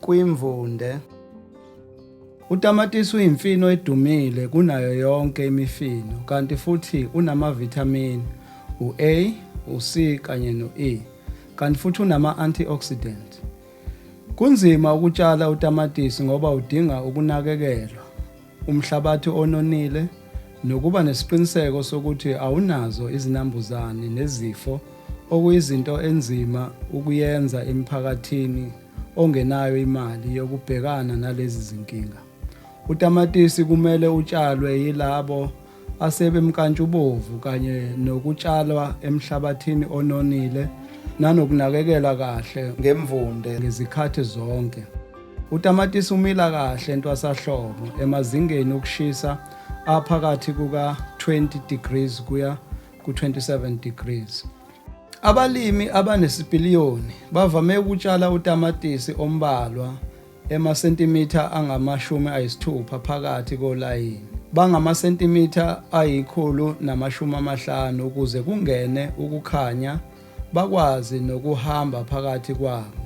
kwimvunde. Utamatisi uyimfino edumile kunayo yonke imifino kanti futhi unamavithamini u-A, u-C kanye no-E kanti futhi unama-antioxidant. Kunzima ukutshala utamatisi ngoba udinga ukunakekelwa. umhlabathi ononile nokuba nesiqiniseko sokuthi awunazo izinambuzane nezifo okuyizinto enzima ukuyenza emphakathini ongenayo imali yokubhekana nalezi zinkinga. Utamatisi kumele utshalwe yilabo asebemkantshubovu kanye nokutshalwa emhlabathini ononile nanokunakekela kahle ngemvunde ngezikhathi zonke. Utamatisi umila kahle entwasahlobo emazingeni okushisa aphakathi kuka-20 degrees kuya ku-27 degrees. Abalimi abanesipiliyoni bavame ukutshala utamatisi ombalwa emasentimitha angamashumi ayisithupha phakathi kolayini bangamasentimitha ayikhulu namashumi amahlanu ukuze kungene ukukhanya bakwazi nokuhamba phakathi kwabo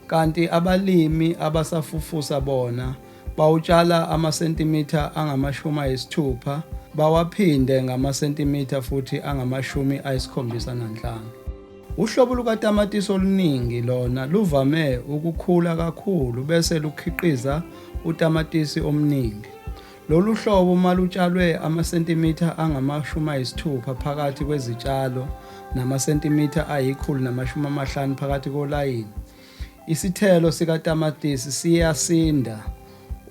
kanti abalimi abasafufusa bona bawutshala amasentimitha angamashumi ayisithupha bawaphinde ngamasentimitha futhi angamashumi ayisikhombisa nanhlanu Uhlobo lukatamatisi oluningi lona luvame ukukhula kakhulu bese lukhiqiza utamatisi omningi. Lolu hlobo uma lutshalwe amasentimitha angamashumi ayisithupha phakathi kwezitshalo namasentimitha ayikhulu namashumi amahlanu phakathi kolayini, isithelo sikatamatisi siyasinda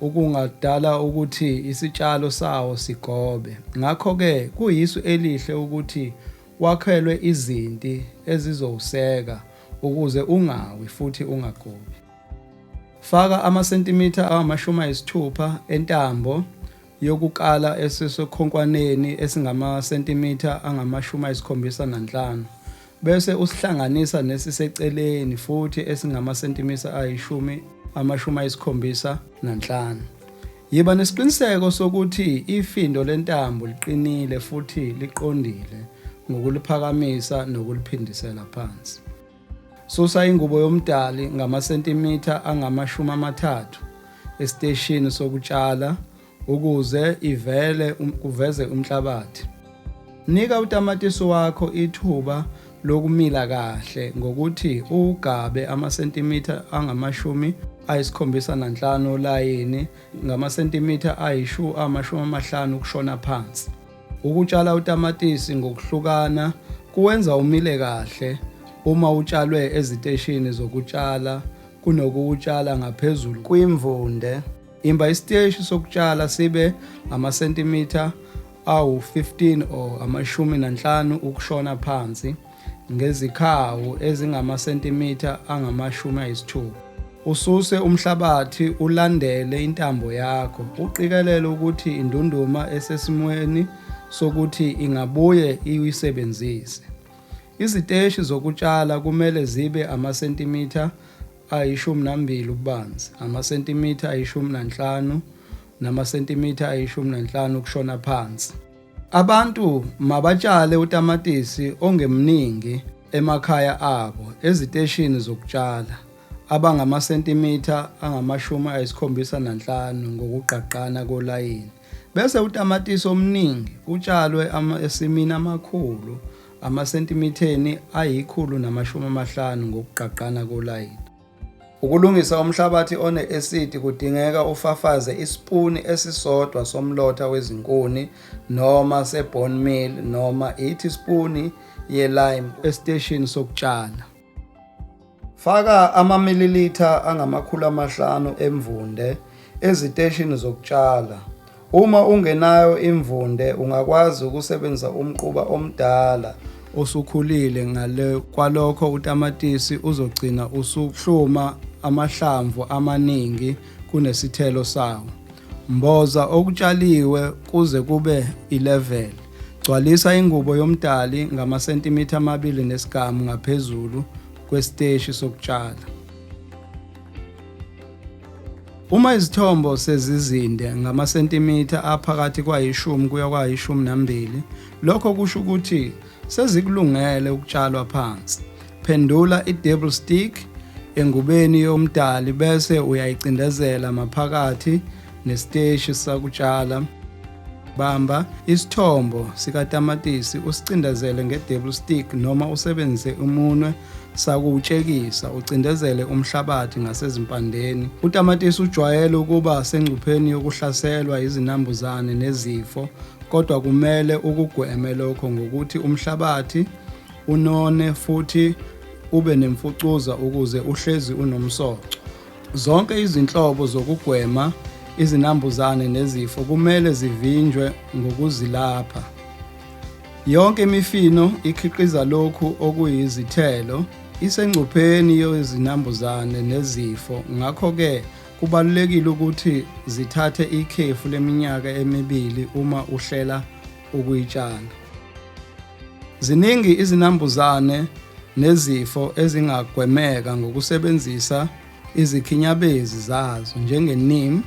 okungadala ukuthi isitshalo sawo sigobe. Ngakho-ke kuyisu elihle ukuthi wakhelwe izinti ezizowuseka ukuze ungawi futhi ungagobi. Faka amasentimitha angamashumi ayisithupha entambo yokukala esisekhonkwaneni esingamasentimitha angamashumi ayisikhombisa nanhlanu bese usihlanganisa nesiseceleni futhi esingamasentimitha ayishumi amashumi ayisikhombisa nanhlanu. Yiba nesiqiniseko sokuthi ifindo lentambo liqinile futhi liqondile ngokuliphakamisa nokuliphindisela phansi. Susa ingubo yomdali ngamasentimitha angamashumi amathathu esiteshini sokutshala ukuze ivele um, kuveze umhlabathi. Nika utamatisi wakho ithuba lokumila kahle ngokuthi uwugabe amasentimitha angamashumi ayisikhombisa nanhlanu olayini ngamasentimitha ayishu amashumi amahlanu ukushona phansi. Ukutshala utamatisi ngokuhlukana kuwenza umile kahle uma utshalwe eziteshini zokutshala kunokuwutshala ngaphezulu kwimvunde. Imba isiteshi sokutshala sibe amasentimitha awu-15 or amashumi nanhlanu ukushona phansi ngezikhawu ezingamasentimitha angamashumi ayisithupha. Ususe umhlabathi ulandele intambo yakho uqikelele ukuthi indunduma esesimweni sokuthi ingabuye iyisebenzise. Iziteshi zokutshala kumele zibe amasentimitha ayishumi nambili ububanzi, amasentimitha ayishumi nanhlanu namasentimitha ayishumi nanhlanu ukushona phansi. Abantu mabatshale utamatisi ongemningi emakhaya abo eziteshini zokutshala abangamasentimitha angamashumi ayisikhombisa nanhlanu ngokugqagqana kolayini. Bese utamatisi omningi utshalwe emasimini amakhulu amasentimitheni ayikhulu namashumi amahlanu ngokugqagqana kolayini. Ukulungisa umhlabathi one-esidi kudingeka ufafaze isipuni esisodwa somlotha wezinkuni noma se-bone meal noma ithi-spuni ye-lime esiteshini sokutshala. Faka amamililitha angamakhulu amahlanu emvunde eziteshini zokutshala. Uma ungenayo imvunde ungakwazi ukusebenzisa umquba omdala osukhulile ngale kwalokho utamatisi uzogcina usuhluma amahlamvu amaningi kunesithelo sawo. Mboza okutshaliwe kuze kube ileveli. Gcwalisa ingubo yomdali ngamasentimitha amabili nesigamu ngaphezulu kwesiteshi sokutshala. Uma izithombo sezizinde ngamasentimitha aphakathi kwayishumi kuya kwayishumi nambili, lokho kusho ukuthi sezikulungele ukutshalwa phansi. Phendula i-double stick engubeni yomdali bese uyayicindezela maphakathi nesiteshi sakutshala. Bamba isithombo sikatamatisi usicindezele nge-double stick noma usebenzise umunwe sakuwutshekisa ucindezele umhlabathi ngasezimpandeni. Utamatisi ujwayele ukuba sengcupheni yokuhlaselwa izinambuzane nezifo kodwa kumele ukugweme lokho ngokuthi umhlabathi unone futhi ube nemfucuza ukuze uhlezi unomsoco. Zonke izinhlobo zokugwema izinambuzane nezifo kumele zivinjwe ngokuzilapha. Yonke imifino ikhiqiza lokhu okuyizithelo isengcupheni yezinambuzane nezifo ngakho-ke Kubalulekile ukuthi zithathe ikhefu leminyaka emibili uma uhlela ukuyitshala. Ziningi izinambuzane nezifo ezingagwemeka ngokusebenzisa izikhinyabezi zazo njenge-neem,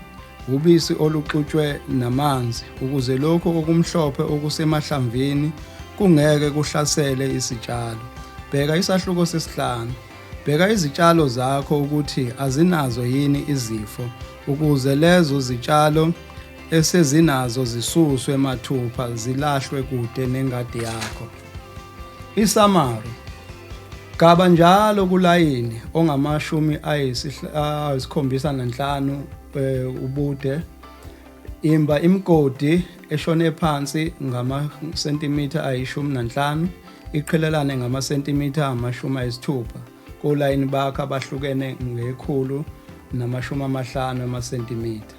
ubisi oluxutshwe namanzi ukuze lokhu okumhlophe okusemahlamvini kungeke kuhlasele isitshalo. Bheka isahluko sesihlanu. Bheka izitshalo zakho ukuthi azinazo yini izifo ukuze lezo zitshalo esezinazo zisuswe mathupha zilahlwe kude nengadi yakho. Isamari Gaba njalo kulayini ongamashumi ayisikhombisa nanhlanu eh, ubude. Imba imigodi eshone phansi ngamasentimitha ayishumi nanhlanu. iqhelelane ngamasentimitha amashumi ayisithupha kolayini bakhe abahlukene ngekhulu namashumi amahlanu amasentimitha.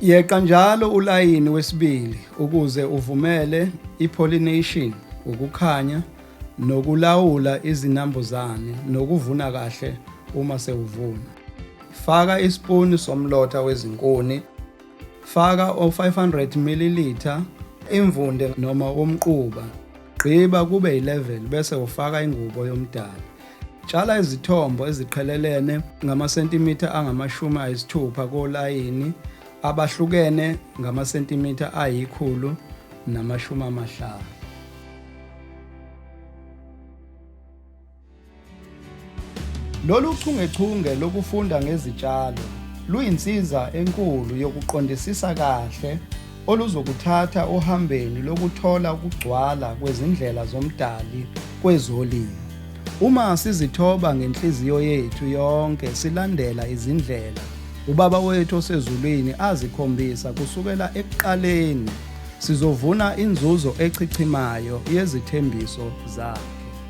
Yeqa njalo ulayini wesibili ukuze uvumele i-pollination, ukukhanya, nokulawula izinambuzane nokuvuna kahle uma sewuvuna. Faka isipuni somlotha wezinkuni. Faka o-500 ml imvunde noma womquba. Gqiba kube yi-level bese ufaka ingubo yomdala. Tshala izithombo eziqhelelene ngamasentimitha angamashumi ayisithupha kolayini abahlukene ngamasentimitha ayikhulu namashumi amahlanu. Lolu chungechunge lokufunda ngezitshalo luyinsiza enkulu yokuqondisisa kahle oluzokuthatha ohambeni lokuthola ukugcwala kwezindlela zoMdali kwezolimo. Uma sizithoba ngenhliziyo yethu yonke silandela izindlela uBaba wethu osezulwini azikhombisa kusukela ekuqaleni, sizovuna inzuzo echichimayo yezithembiso zakhe.